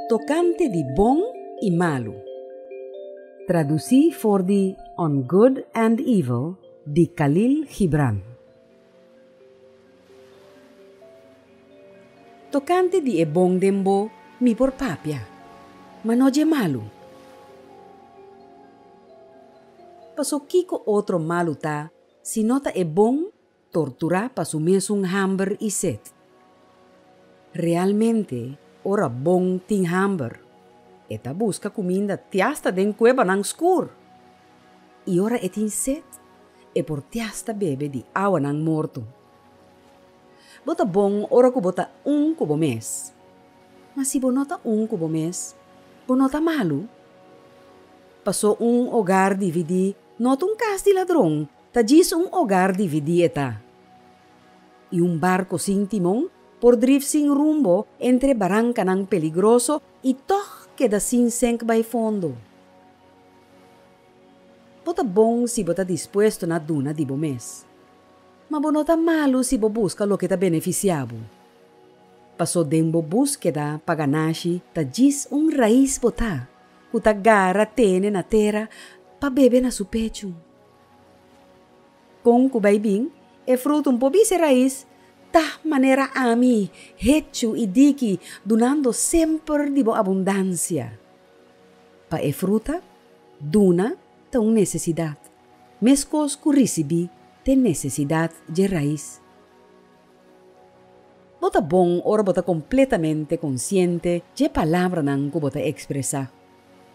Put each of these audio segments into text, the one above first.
Tokante di bon i malu. Tradusí for di On Good and Evil di Khalil Gibran. Tokante di e bon den bo mi por papia, ma no dje malu. Pasobra kiko otro malu ta si no ta e bon Torturá pa su mesun hamber i set. Realmente, ora bon tin hamber, e ta buska kuminda ti asta den kuebanan skur. I ora e tin set, e por ti asta bebe di awanan morto. Bo ta bon ora ku bo ta un ku bo mes. Ma si bo no ta un ku bo mes, bo no ta malu? Pasó un ogar dividí no ta un kas di ladron Ta djis un ogar dividí e ta. I un barku sin timon por drif sin rumbo entre barankanan peligroso i tòg keda sin senk bai fondo. Bo ta bon si bo ta dispuesto na duna di bo mes. Ma bo no ta malu si bo buska loke ta benefisiá bo. Paso den bo búskeda pa ganashi ta djis un rais bo ta ku ta gara tene na tera pa bebe na su pechu. Kon ku bai bin e frutun? Por bisa e rais, Ta manera ami, hechu i diki, dunando semper di bo abundansia. Pa e fruta, duna ta un nesesidat, meskos ku risibí ta e nesesidat dje rais. Bo ta bon ora bo ta kompletamente konsiente dje palabranan ku bo ta ekspresá.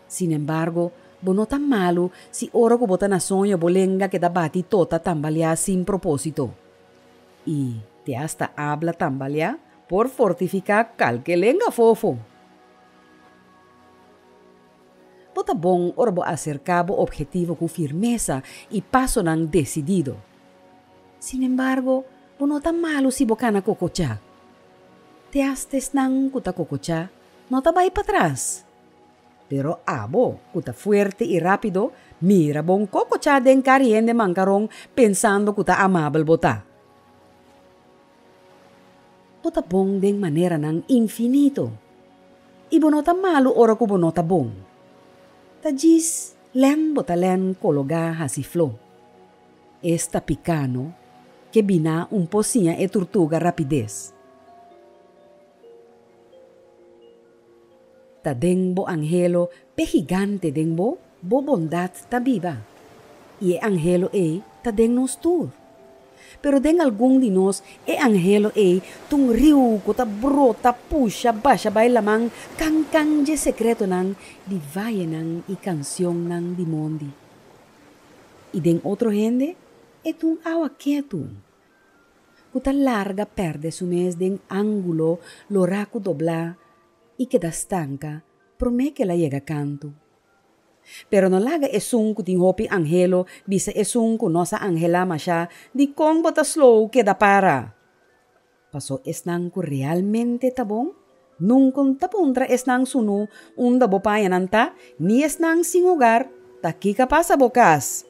Sinembargo, bo no ta malu si ora ku bo ta na soño bo lenga keda bati to ta tambaleá sin propósito i te asta abla tambaleá por fortifiká kalke lenga afofo. Bo ta bon ora bo aserká bo obhetivo ku firmesa i pasonan desidido. Sinembargo, bo no ta malu si bo kana kokocha. Te asta esnan ku ta kokocha no ta bai patras. Pero abo, ku ta fuerte i rápido, mira bo un kokochá den kar hende mankaron pensando ku ta amabel bo ta. Bo ta bon den maneranan infinito, i bo no ta malu ora ku bo no ta bon. Ta djis lèn bo ta lèn kologá hasi fló. Esta piká no, ke biná un po siña e turtuga rapides. Ta den bo angelo p'e higante den bo, bo bondat ta biba, i e angelo ei ta den nos tur. Pero den algun di nos e angelo ei ta un riu ku ta brota, pusha, basha bai laman, kankan dje sekretonan di vayenan i kansionnan di mondi. I den otro hende e ta un awa ketu. ku ta larga pèrdè su mes den ángulo lo raku doblá i keda stanka promé ke el a yega kantu. Pero no laga esun ku tin hopi anhelo bisa esun ku nos a anhelá mashá dikon bo ta slow keda para? Pasó esnan ku realmente ta bon Nuncon ta puntra esnan su nu unda bo paña nan ta, ni esnan sin hogar ta kica pasa bo cas.